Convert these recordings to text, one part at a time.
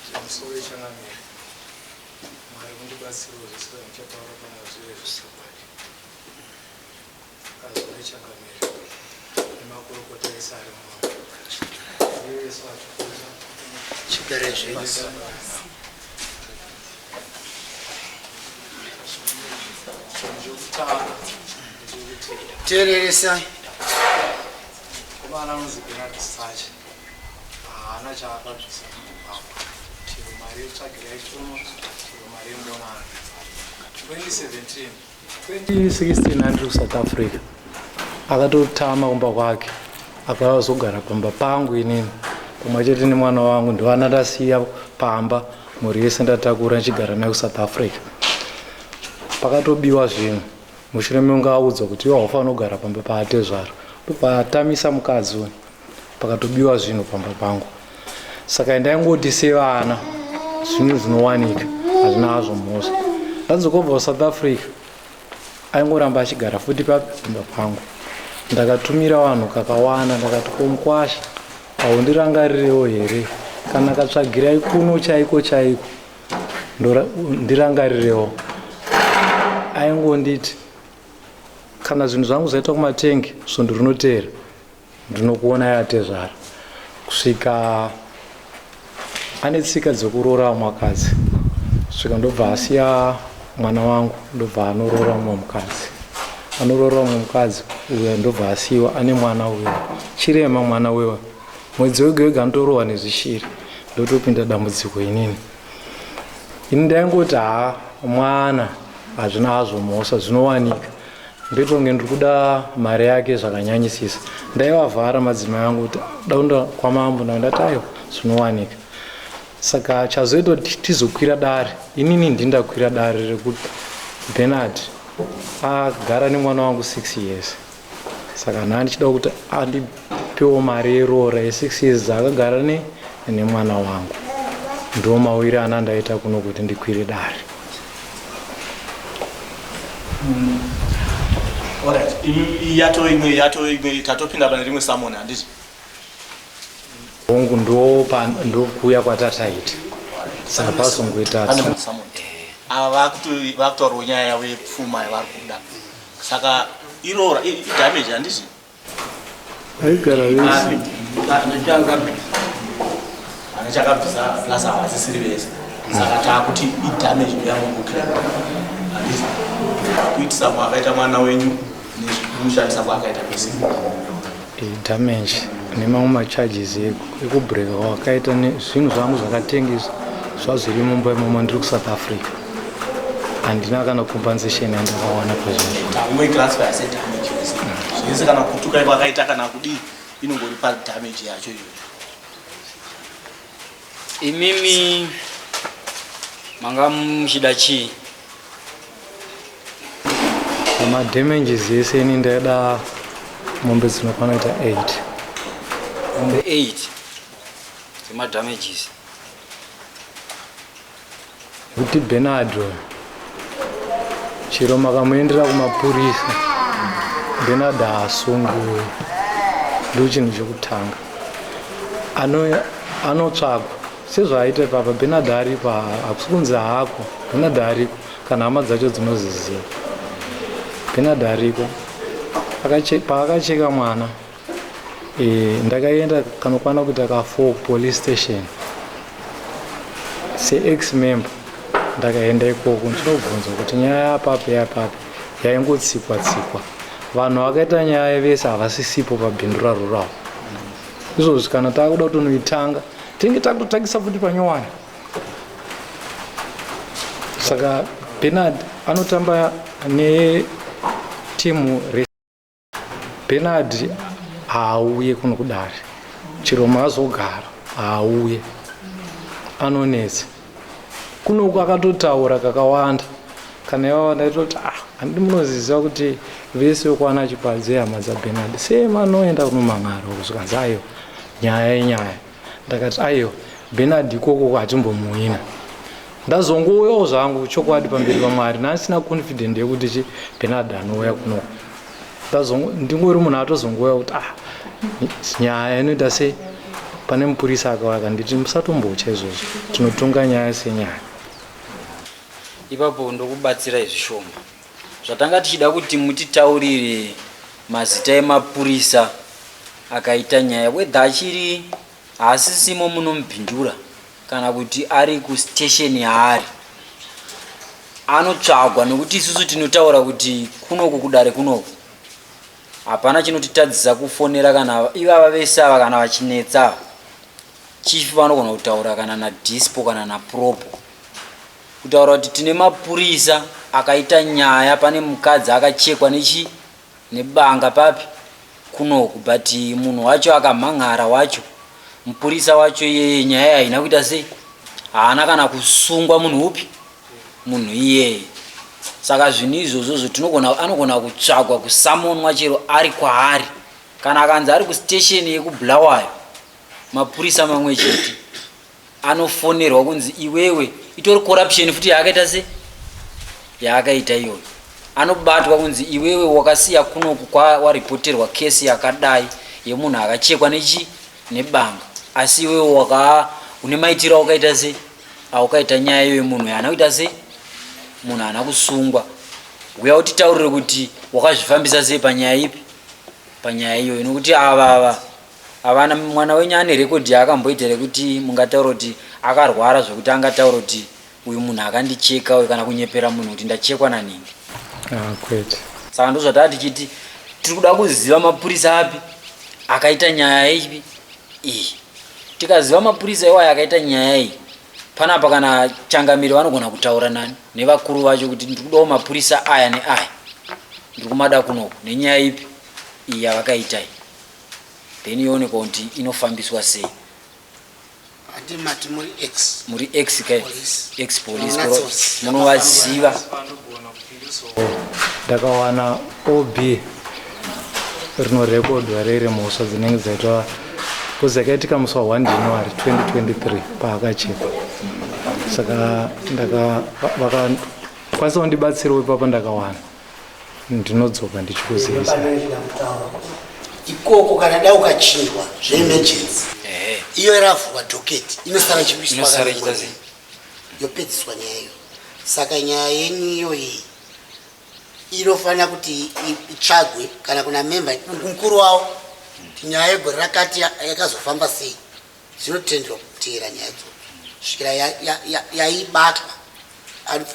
Zvemusoro ichanamira. Mwari mundibatsirewo zvese zvamuchataura pamazwi ezvisakwadi. Azwa ichangamira. Nemakurukota ese ari mumoyo. Uye Yesu atukuzwa. Chipere zvenyu. Tereresai. Kumana anonzi Bernard Sacha. haana chaakabvisa mumugwagwa chero mari yetsvagira yeshono chero mari yemonana 2017 2016 andiri kusouth africa akatotama kumba kwake akazogara pamba pangu inini kumwe chete nemwana wangu ndovana ndasiya pamba mhuri yese ndatakura ndichigara nayo kusouth africa pakatobiwa zvinhu mushure mekunge audzwa kuti iwe haufanira kugara pamba paatezvara ndopatamisa mukadzi uyu pakatobiwa zvinhu pamba pangu saka ndaingoti sevana zvinhu zvinowanika hazvina hazvo mhosva ndanzokobva kusouth africa aingoramba achigara futi papi pamba pangu ndakatumira vanhu kakawanda ndakati komukwasha haundirangarirewo here kana katsvagirai kuno chaiko chaiko ndirangarirewo aingonditi kana zvinhu zvangu zvaitwa kumatenge svondo rinoteera Ndinokuona yatezvara kusvika ane tsika dzekuroora vamwe vakadzi kusvika ndobva asiya mwana wangu ndobva anoroora mumwe mukadzi anoroora mumwe mukadzi uyo ndobva asiyiwa ane mwana uyo chirema mwana wewa mwedzi wega wega anotorohwa nezvishiri ndotopinda dambudziko inini ini ndaingoti haa mwana hazvina hazvo mhosva zvinowanika Ndetonge ndiri kuda mari yake zvakanyanyisisa. Ndaivavhara madzimai angu kuti daunda kwamambo ndati aiwa zvinowanika. Saka chazoita kuti tizokwira dare inini ndindakwira dare rekuti Bernard agara nemwana wangu six years. Saka nhaa ndichida kuti andipewo mari yeroora yesix years dzaakagara ne nemwana wangu. Ndiwo mauire ana ndaita kuno kuti ndikwire dare. Alright, imi yato imwe yato imwe tatopinda pane rimwe summon handiti? Hongu ndo pa ndo kuya kwatataita. Saka pasongoita Pane rimwe summon. Ava vakuto- vakutaurawo nyaya yavo yepfuma yavari kuda. Saka irora i- i- damage handiti? Haigara vese. Anachakabvisa plus havasisiri vese. Saka taakuti idamage yavo kuclaim. Handisi kuitisa kwakaita mwana wenyu nekushandisa kwakaita kwese. Idamage nemamwe macharges ekubreaka kwakaita zvinhu zvangu zvakatengesa zvazviri mumba imomo ndiri kuSouth Africa. handina kana compensation yandakawana pazvinezvese kana kutuka iko akaita kana kudii inongori padamage yacho iyoyo imimi manga muchida chii madamages ese ini ndaida mombe dzinokwana ita 8 mombe 8 dzemadamages Kuti Benadro chero makamuendera kumapurisa Benard haasungui ndo chinhu chekutanga anotsvagwa sezvaaita papa Benard ariko hakusi kunzi hako Benard ariko kana hama dzacho dzinoziziva Benard ariko paakacheka mwana Eh, ndakaenda kanokwana kuita ka4 police station seex member ndakaenda ikoko ndinobvunza kuti nyaya yapapi yapapi yaingotsikwa tsikwa vanhu vakaita nyaya vese havasisipo pabhindura rurawo izvozvi kana takuda kutonoitanga tinenge takutotangisa futi panyowani saka benard anotamba netimu Bernard haauye kuno kudare chero maazogara haauye anonetsa kunoku akatotaura kakawanda kana ivava ndaitoti ah handidi munoziziva kuti vese vekwana chipadze hama dzabenard sema anoenda kunomhan'ara uko zvikanzi aiwa nyaya inyaya ndakati aiwa benard ikoko hatimbomuhwina ndazongouyawo zvangu chokwadi pamberi pamwari naasina confident yekuti chi benard anouya kuno ndingori munhu atozongouya kuti ah nyaya inoita sei pane mupurisa akauya kanditi musatombotya izvozvo tinotonga nyaya senyaya ipapo ndokubatsirai zvishoma Zvatanga tichida kuti mutitaurire mazita emapurisa akaita nyaya whether achiri haasisimo muno muBindura kana kuti ari kustation yaari anotsvagwa nekuti isusu tinotaura kuti kunoku kudare kunoku hapana chinotitadzisa kufonera kana ivava vese ava kana vachinetsa chief vanogona kutaura kana nadispo kana napropo Kutaura kuti tine mapurisa akaita nyaya pane mukadzi akachekwa nechi nebanga papi kunoku but munhu wacho akamhan'ara wacho mupurisa wacho iyeye nyaya haina kuita sei haana kana kusungwa munhu upi munhu iyeye saka zvinhu izvozvo zvotinogona anogona kutsvagwa kusamonwa chero ari kwaari kana akanzi ari kustation yekubulawayo mapurisa mamwe chete anofonerwa kunzi iwewe itori corruption futi yaakaita se yaakaita iyoyo anobatwa kunzi iwewe wakasiya kunoku kwawarepoterwa kesi yakadai yemunhu akachekwa nechi nebanga asi iwewe wakaa une maitiro awakaita se awakaita nyaya iyoyo munhu haana kuita se munhu haana kusungwa huya utitaurire kuti wakazvifambisa sei panyaya ipi panyaya iyoyo nokuti ava ava Havana mwana wenyu ane record yaakamboita rekuti mungataura kuti akarwara zvekuti angataura kuti uyu munhu akandicheka uyu kana kunyepera munhu kuti ndachekwa nanhingi. Ah, kwete. Saka ndozvataa tichiti tiri kuda kuziva mapurisa api akaita nyaya ipi iyi. Tikaziva mapurisa iwayo akaita nyaya iyi panapa kana changamire vanogona kutaura nani nevakuru vacho kuti ndiri kudawo mapurisa aya neaya ndiri kumada kunoku nenyaya ipi iyi yavakaita iyi. then yoonekwa kuti inofambiswa sei Ati mati muri ex. muri ex kai Police. ex police Munatso- koro munovaziva ndakawana ob rinorekodwa riri mhosva dzinenge dzaitwa bcause yakaitika musi wa 1 january 2023 paakachekwa saka ndaka va- vakakwanisa kundibatsirawo ipapa ndakawana ndinodzoka ndichikuzivisa ikoko kana dai ukachinjwa zveemergency iyo iravhurwa doketi inosara chikuiswa yopedziswa nyaya iyo saka nyaya yenyu iyoyi inofanira kuti itsvagwe kana kuna memba mukuru wavo nyaya yegore rakati yakazofamba sei Dzinotenderwa kuteera nyaya idzodzo svikira yaibatwa ya, ya, ya,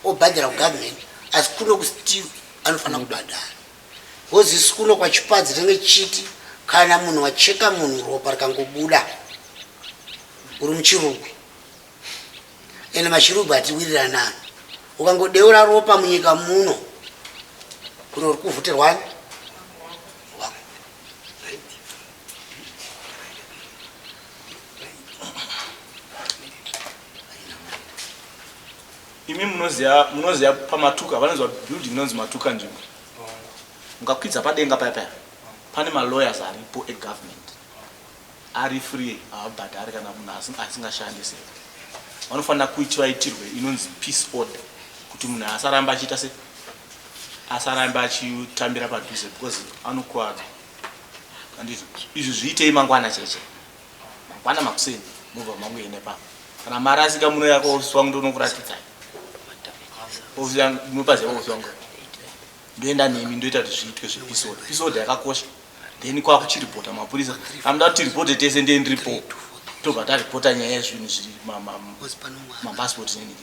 obhadhara kugovernment asi kuno kustill anofanira kubhadhara bcause isu kuno kwachipadzi tinenge tichiti kana munhu wacheka munhu ropa rikangobuda uri muchirugwi ende machirugwi hatiwiriranani ukangodeura ropa munyika muno kuno uri kuvhutirwani imi munoziva munoziva pamatuka vanonzwa building inonzi matuka nzvimbo mukakwidza padenga paya paya pane malawyers aripo egovernment ari free haabhadhari kana munhu asingashandi se vanofanira kuiti vaitirwe inonzi peace order kuti munhu asaramba achiita se asarambe achitambira padhuze because anokwadza Anditi izvi zviitei mangwana cheche. Mangwana makuseni mobva mangoenda papa. Kana mari asika muno yako ofisi wangu ndonokuratidza. Ofisi yangu ndinopaziva ofisi wangu. Ndoenda nemi ndoita kuti zviitwe zvepisod. Pisod yakakosha. Then kwakuchiripota mapurisa. Anoda kuti ripote tese ndiye ndiripo. Tobva taripota nyaya yezvinhu zviri mapasipoti neniki.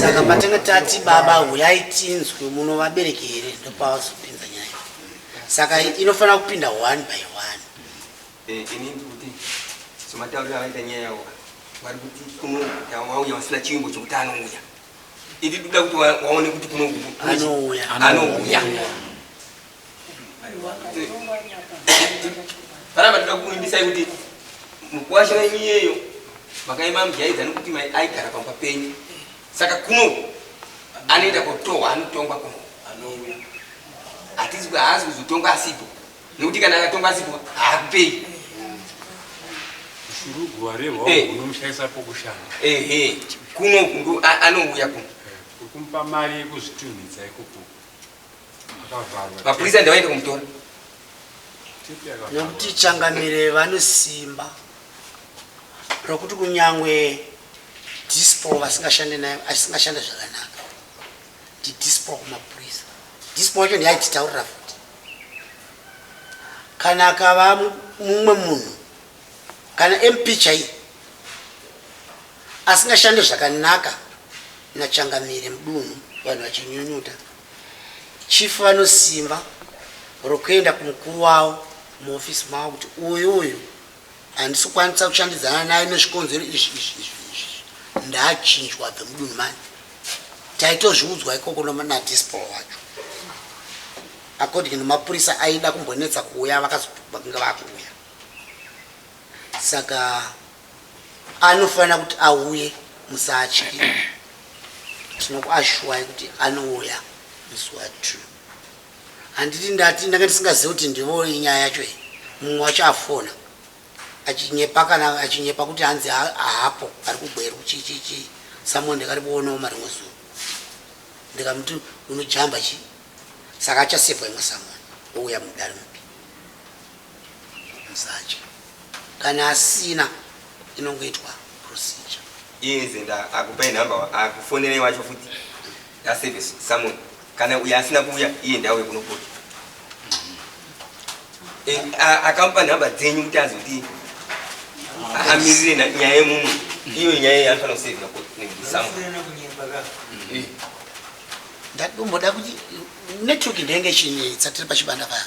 saka patanga tati baba huyai tinzwe muno vabereki here ndopavazopinza nyaya saka inofanira kupinda one by one eh, somatauriro avaita nyaya yavo vari kuti kuno vauya vasina chivimbo chokuti anouya iti toda kuti waone kuti kuno anouya Kana matida kuimbisa kuti mukwasha wenyu iyeyo makaima mjaidza nekuti mai aigara pamba penyu saka kuno anoenda kotohwa anotongwa kuno anouya hatizi haazi kuzotongwa asipo nekuti kana akatongwa asipo haakupei kuno anouya kuno eh, kumupa mari yekuzvitunhidza ikoko mapurisa ndavaende kumutora nekuti changamire vane simba rokuti kunyangwe dispo vasingashande nayo asingashande zvakanaka ndidispo kumapurisa dispo wacho ndiyaititaurira futi kana akava mumwe munhu Kana MP chaiye asingashande zvakanaka naChangamire mudunhu vanhu vachinyunyuta, Chief vanosimba rokuenda kumukuru wavo muoffice mavo kuti uyu uyu handisi kukwanisa kushandidzana naye nezvikonzero izvi izvi izvi izvi ndaachinjwa abve mudunhu mani. Taitozviudzwa ikoko naDispol wacho according nemapurisa aida kumbonetsa kuuya vakazonge vakuuya. Saka anofanira kuti auye musatye tinokuashuwai kuti anouya musi wa two handiti ndati ndanga ndisingazive kuti ndivo inyaya yacho iyi mumwe wacho afona achinyepa kana achinyepa kuti hanzi haapo ari kugweru chichichi someone ndakari kuonawo marimwe zuva ndikamuti unojamba chii saka achasevwa imwe someone ouya mudari mupi Msatye kana asina inongoitwa procedure. Inze nda akupai number wa akufonerei wacho futi nda service summon kana uyo asina kuuya iye ndauye kunopota. Eh, a- akamupa nhamba dzenyu kuti azoti amirire na- nyaya yemumu iyo nyaya yaanofanira kusevhira kusamu ndadomboda kuti network ndenge ichinetsa tiri pachibanda paya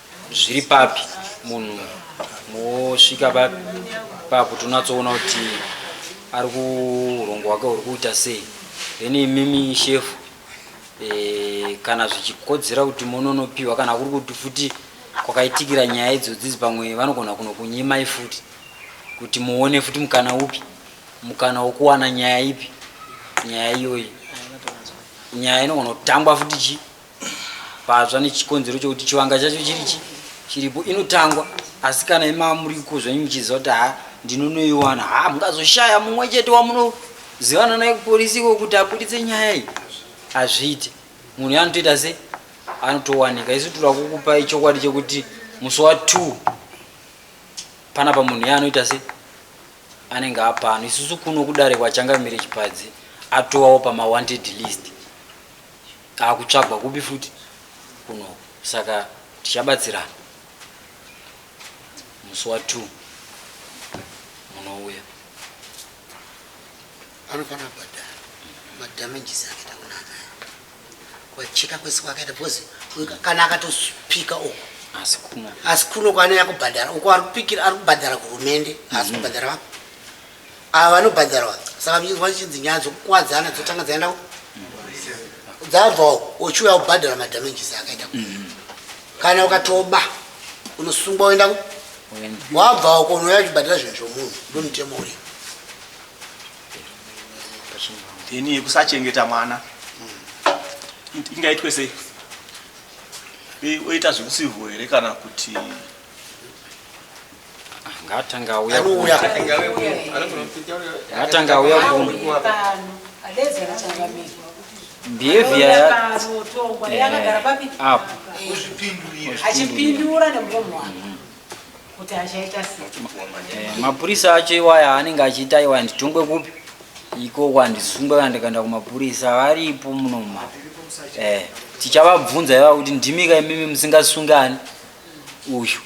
zviri papi munhu mosvika pa- papo tonatsoona kuti ari kurongo hwake huri kuita sei then imimi shefu eh, kana zvichikodzera kuti mononopiwa kana kuri kuti futi kwakaitikira nyaya idzodzizi pamwe vanogona kunokunyimai futi kuti muone futi mukana upi mukana wokuwana nyaya ipi nyaya iyoyi nyaya inogona kutangwa futi chi patsva nechikonzero chokuti chivanga chacho chiri chi chiripo inotangwa asi kana imava muriko zvenyu muchiziva kuti haa ndinonoiwana haa mungazoshaya mumwe chete wamunozivana naye kuporisi iko kuti abuditse nyaya iyi hazviite munhu yaanotoita se anotowanika isu tira kukupa ichokwadi chekuti musi wa two panapa munhu yaanoita se anenge apano isusu kuno kudare kwachangamire chipadzi atowawo pamawanted list Akutsvagwa kupi futi kuno saka tichabatsirana musi wa two munouya. Anofanira kubhadhara madamages ake takunana kwacheka kwese kwakaita because kana akatopika uko asi kuno asi kuno kwaanouya kubhadhara uko arikupikira arikubhadhara kuhurumende haasi kubhadhara vako Ava vanobhadharwa saka vhinzwa chinzi nyaya dzokukuwadzana dzotanga dzaenda dzabvawo uchiuya kubhadhara madamages akaita mm-hmm. kana ukatoba unosungwa woenda wabvawo konouya uchibhadhara zvinhu zvomunhu ndomutemo uri ini yekusachengeta mwana ingaitwe sei oita zvekusihwo here kana kuti ngatanga auya anouya ngatanga auya kumwe behavior ya up achipindura nemuromo wake kuti achaita sei mapurisa acho iwaya anenge achiita iwaya nditongwe kupi iko kwandisungwe kana ndikaenda kumapurisa varipo munoma eh tichavabvunza ivava kuti ndimika imimi musingasungani uyu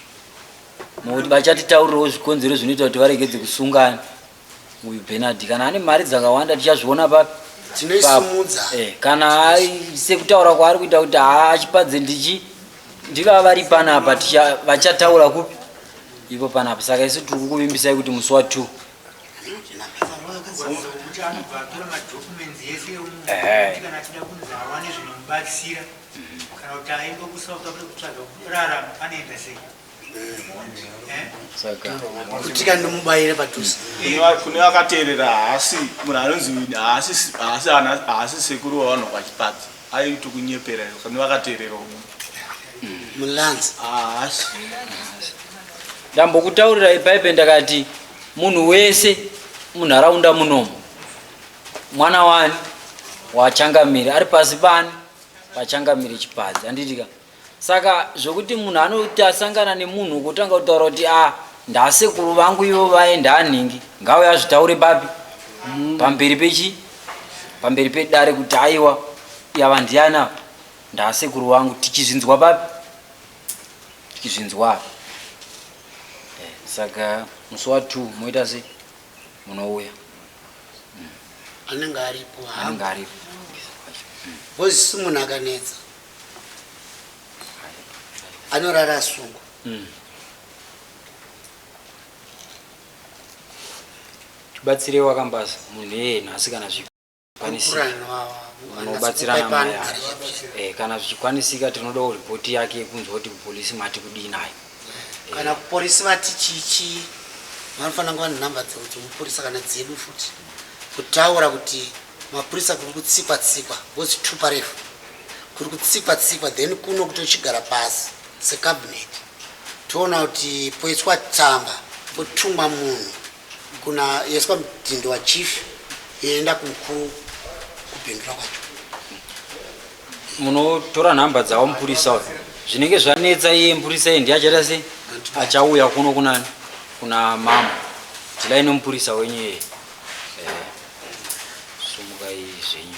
nokuti vachatitaurirawo zvikonzero zvinoita kuti varegedze kusungana uyu benard kana ane mari dzakawanda tichazviona papi tinoisimudza eh, kana sekutaura kwaari kuita kuti haachipadze ndichi ndivava vari panapa vachataura kupi ipo panapa saka isu tiri kukuvimbisai kuti musi wa two kana kuti aimbo kusava kuti akuda kutsvaga kurarama anoenda sei kutika ndomubayire padhuze kune vakateerera haasi munhu anonzi haasi sekuru wavanhu vachipadza aiti kunyepera kune vakateerera umu mulanzi haasi ndambokutaurira ibaibe ndakati munhu wese munharaunda munomu mwana wani wachangamiri ari pasi pani vachangamire chipadzi handiti ka saka zvokuti munhu anoti asangana nemunhu kutanga kutaura kuti a ah, ndasekuru vangu ivo vaenda anhingi ngauye azvitaure papi mm. pamberi pechi pamberi pedare kuti aiwa yava ndiani apa ndasekuru vangu tichizvinzwa papi tichizvinzwa apa eh, saka musi wa two moita sei munouya mm. anenge aripo anenge aripo bhozi si munhu akanetsa anorara asungwa mm. tibatsirei wakambaza munhu iyena asikana zvipo kwanisika unobatsirana naye eh, kana zvichikwanisika tinodawo ripoti yake yekunzwa kuti kupolisi mati kudii naye kana eh. kupolisi vati chichi vanofanira kuva nenhamba dzemupurisa kana dzedu futi kutaura kuti mapurisa kuri kutsikwa tsikwa ngozi tupa refu kuri kutsikwa tsikwa then kuno kuti uchigara pasi secabinet toona kuti poiswa tsamba potumwa munhu Kuna yes kwa mtindo wa chief yoenda kumukuru kupindura kwacho. Munotora nhamba dzawo mupurisa uyu. Zvinenge zvanetsa iye mupurisa iye ndiye achaita sei? Achauya kuno kunani? Kuna mama. Dhilai nomupurisa wenyu iye. Eh. Sumukai zvenyu.